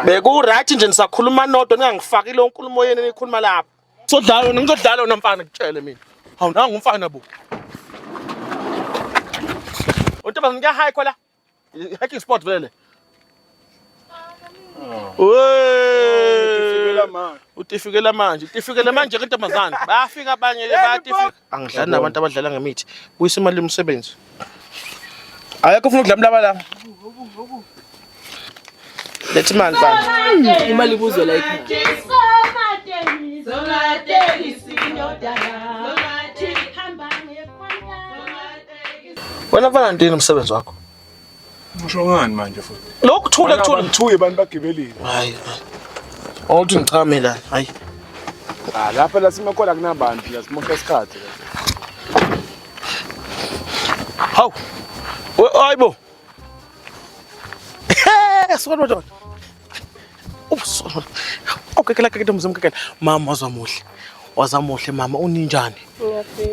Beku-right nje nisakhuluma nodwa ningangifaki leyo nkulumo yenu eniyikhuluma lapho. Sodlala wena ngizodlala wena mfana ngitshele mina. Hawu nangu umfana bo. Untombazane kuyahayi khola. Hiking spot vele le. Wee. Utifikela manje. Utifikela manje ke ntombazane. Bayafika abanye ke bayatifika. angidlali nabantu abadlala ngemithi buyisa imali yomsebenzi ayekho ufuna ukudla mlaba la lethi imali bani imali ibuzwe la wena mfana ntini umsebenzi wakho Usho ngani manje futhi? Lokhu thule kuthule. Ngithuye abantu bagibelile. Hayi. Awuthi ngichame la. Hayi. Ah lapha la simakhola kunabantu la simosha isikhathi. Hawu. Hayibo. Hey, solo dot. ubuso okekela ke ntombi zomkekela mama wazwa muhle waza muhle mama uninjani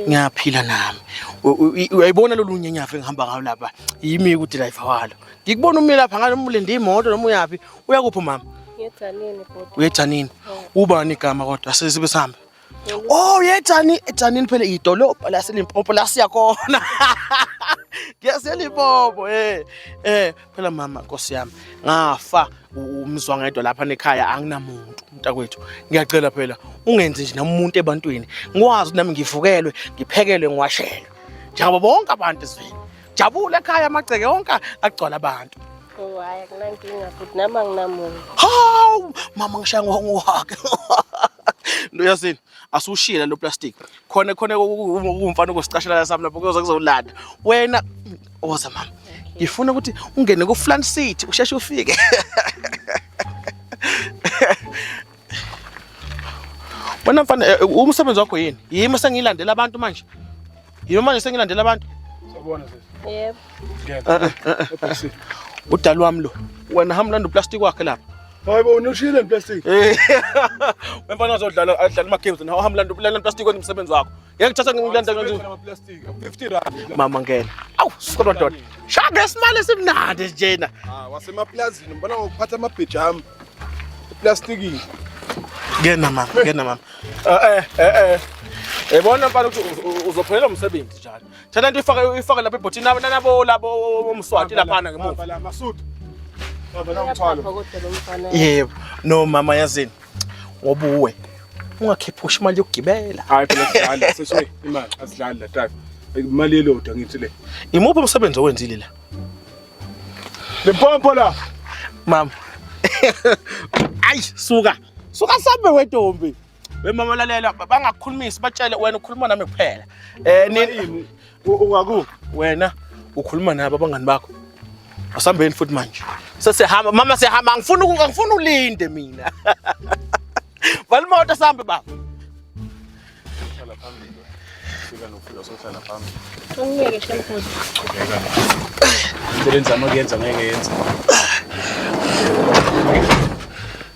ngiyaphila nami U- u- i- uyayibona lolu nyenyafa engihamba ngayo lapha yimi kudilayiva walo ngikubona umi lapha ngalo umulinde imoto noma uyaphi uyakuphi mama Ngejanini bhuti. uyejanini ubani igama kodwa sesibe sihambe Oh yejani ejanini phela idolobha laseLimpopo la siya khona. NgiyaseLimpopo eh eh phela mama Nkosi yami ngafa umzwa ngedwa lapha nekhaya anginamuntu mntakwethu ngiyacela phela ungenzi nje namuntu ebantwini ngikwazi nami ngivukelwe ngiphekelwe ngiwashelwe njengoba bonke abantu ezweni Jabule ekhaya amagceke onke agcwala abantu. Oh, hayi akunankinga futhi nami anginamuntu. Hawu, mama ngishaya ngohake. Ndoyazini, asushile lo plastic. Khona khona kumfana ukusicashela la sami lapho kuyoze kuzolanda. Wena oza mama. Ngifuna ukuthi ungene ku Flan City usheshe ufike. Wena mfana eh, eh, umsebenzi wakho yini? Yimi sengilandela abantu manje. Yimi manje sengilandela abantu. Sabona sisi. Yebo. Ngeke. Eh, Udali wami lo. Wena hamba landa uplastic wakhe lapha. Hayi bo unushile plastic. Wemfana uzodlala adlala ama games nawe hamba landa landa plastic wenza umsebenzi wakho. Ngeke thatha ngilanda kanjani? Ngifuna amaplastic. 50 rand. Mama ngena. Awu, suka madoda. Shaya ngesimali esimnandi njena. Ah, wasemaplazini ngibona ngokuphatha amabheji ami. Eplastikini. Ngena mama, ngena mama. Eh eh eh. Yabona eh. mfana ukuthi uzophelela umsebenzi njalo. Thana into ifake ifake lapha ebhotini nabo nabo labo omswati lapha ngemuva. Baba la masudu. Baba la mthwalo. Yebo. No mama yazini. ngoba uwe ungakhiphushi imali yokugibela hayi phela sidlala sesoyi imali asidlali la tata imali elodwa ngithi le imuphi umsebenzi owenzile la le pompo la mama ayi suka suka sambe wedombi wemama lalela bangakukhulumisi batshele wena ukhuluma nami kuphela eh nini Ungaku wena ukhuluma nabo abangani bakho. Asambeni futhi manje. Sesihamba mama sihamba angifuni angifuni ulinde mina. Vala imoto sambe baba. Hlala phambili. Fika nofika sohlala phambili. Ungeke shemfuthi. Sebenza amakuyenza ngeke yenza.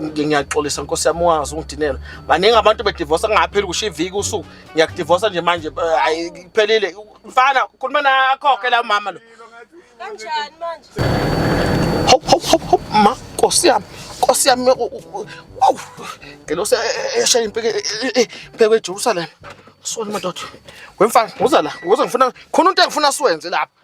ngiyaxolisa nkosi yami ungazi ungidinela baningi abantu bedivosa kungapheli kusho iviki usuku ngiyakudivosa nje manje eh, hayi kuphelile mfana khuluma nakhokhe la mama lo kanjani manje hop hop hop hop ma nkosi yami nkosi yami wow ngelosi eshaya impeke impeke eJerusalem sona madoda wemfana uza la uza ngifuna khona into engifuna siwenze lapha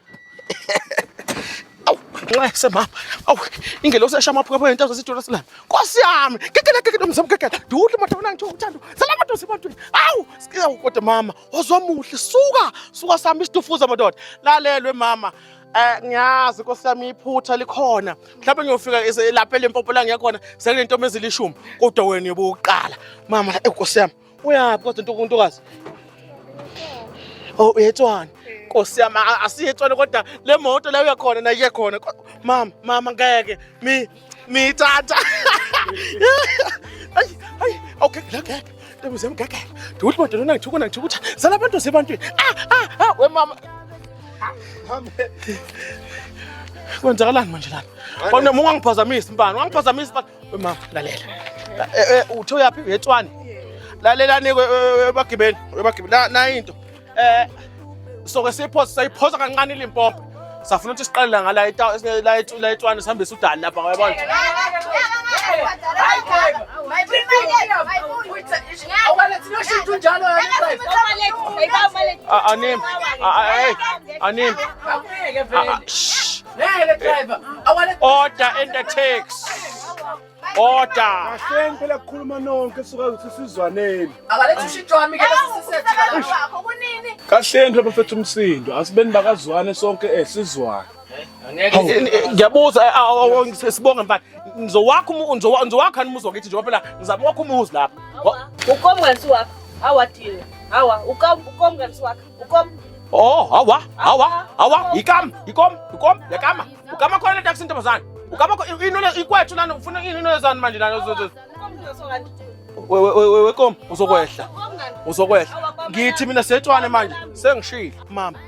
nxese mama awu ingelosi esha amaphukapho yento zesitolo silana nkosi yami kekela kekela mzam kekela ndiwudle madoda wena ngithiwa uthando sala madoda sebantwini awu siyawu kodwa mama wazomuhle suka suka sami isitufuza madoda lalelwe mama Eh ngiyazi nkosi yami iphutha likhona mhlawumbe ngiyofika lapha lempopo la ngiyakhona sekunentombi ezilishumi kodwa wena yobuqala mama eh nkosi yami Uyaphi kodwa ntuku ntokazi? Oh uyetshwana. Nkosi yami asiyetshwana kodwa le moto la uya khona naye khona. Mama mama ngeke mi mi tata. Ay ay okay ngeke. Ntombi zami ngeke. Duthi moto lona ngithuka ngithuka. Zala abantu sebantwini. Ah ah ah we mama. Mama. kwenzakalani manje lana wena munga ngiphazamisa mbani wangiphazamisa Mama lalela. Eh, eh uthe uyapi eTswane? Lalela nike eh, ebagibeni, ebagibeni. Na na into. Eh soke siphosa sayiphosa kancane ilimpopo. Safuna ukuthi siqale la ngala itawu la la eTswane sihambisa udali lapha ngoyabona. Anim. Anim. Ngeke driver. Awale Order in the tax. Order. Kahleni phela kukhuluma nonke suka ukuthi sizwaneni. akalethe ushintshi wami ke sisethika. wakho kunini Kahleni phela bafethu umsindo. Asibeni bakazwane sonke eh sizwane. Ngiyabuza sibonge mfana. Ngizowakha umu- ngizowa- ngizowakha umuzi wakithi njengoba phela ngizama ukwakha umuzi lapha. ukomkansi wakho awadini awa ukomkansi wakho Ukom. Oh, hawa, hawa, hawa, ikam, ikom, ikom, yakama. Ukama khona le taxi ntombazane. Ukama inole ikwethu lana ufuna ini inole zani manje lana uzozo. Wewe wewe wekom uzokwehla. Uzokwehla. Ngithi mina setshwane manje sengishilo. Mama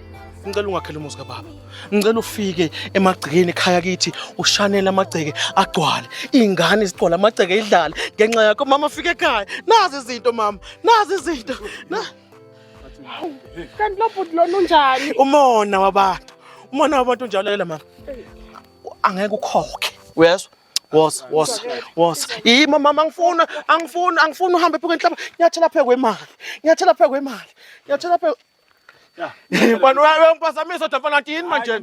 ngicela ungakhele umuzi kababa ngicela ufike emagcekeni ekhaya kithi ushanele amagceke agcwale iy'ngane zigcwale amagceke idlale ngenxa yakho mama fike ekhaya nazi izinto mama nazi izinto Hawu, kanti lo bhuti lona unjani? Umona wabantu. Umona wabantu unjalo yela mama. Angeke ukhokhe. Uyezwa? Wosa, wosa, wosa. Yima mama angifuna, angifuna, angifuna uhambe pheke enhlaba. Nyathela pheke kwemali. Nyathela pheke kwemali. Nyathela pheke. Bani uyampazamisa uDampana yini manje?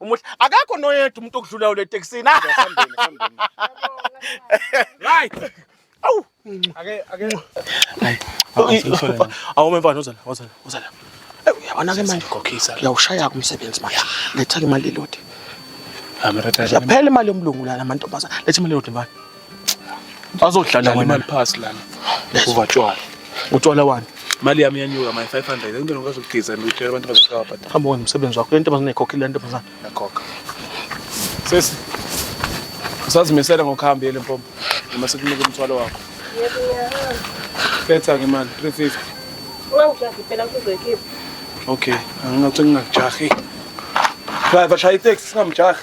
Umuhle akakho noyedwa umuntu okudlulayo le taxini. Asambeni, asambeni. Right. Awu. Ake ake Awume mfana uzala, uzala, uzala. Eh, Uyabona ke manje ukhokhisa. Uyawushaya ke umsebenzi manje. Letha ke imali elodi. Amarata. Yaphela imali yomlungu lana amantombazana. Letha imali elodi mfana. Azodlala Dlala imali phasi lana. Uva tshwala. Utshwala wani? Imali yami yanyuka my 500. Into ngikwazi ukugeza and utshela abantu bazohlaba but Hamba wenza umsebenzi wakho. Le ntombazane ayikhokhile le ntombazane. yakhokha. Sesi. Usazimisela ngokuhamba yele mpompo. Noma sikunika umthwalo wakho. Yebo ngiyahamba. Letha ke imali 350. Ungangijahi impela kuzoyikhipha. Okay, angingathi ngingakujahi. Driver shaya itaxi singamjahi.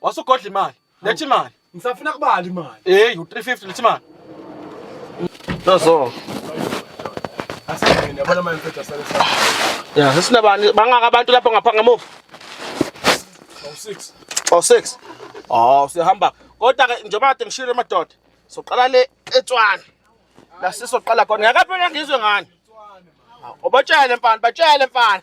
Wasugodla imali. Lethi imali. Ngisafuna kubala imali. Hey, u350 lethi imali. Nazo. Asingene yabona manje mfethu asale sa. Yeah, sesinabani bangaka abantu lapho ngapha ngamuva. Oh 6. Oh 6. Oh, sihamba. Kodwa ke njengoba kade ngishilo madoda. Soqala le eTswana. La sisoqala khona. Ngakaphela ngizwe ngani? Ubatshele mfana, batshele mfana.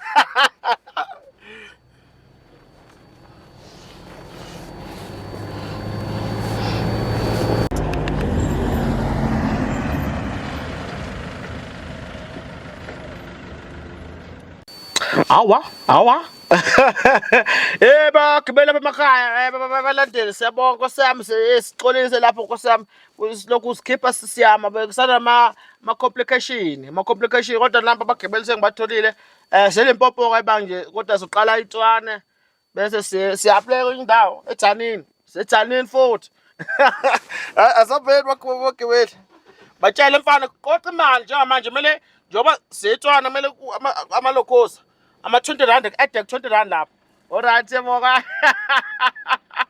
Awa, awa. Eh bagibela lapha emakhaya, eh balandele siyabonga Nkosi yami sixolise lapho Nkosi yami. silokhu sikhipha sisiyama bekusana ma-complication ma-complication kodwa nabo abagibeli sengibatholile um eh, selimpopo-ke manje kodwa siqala itshwane bese siyapleka kwenye indawo ejanini sejanini futhi asabheli bagibeli batshele mfana qoqa imali njengamanje kumele njengoba siyetshwana kumele amalokhosa ama-twenty rand ade ku-twenty rand lapho oryt yeboka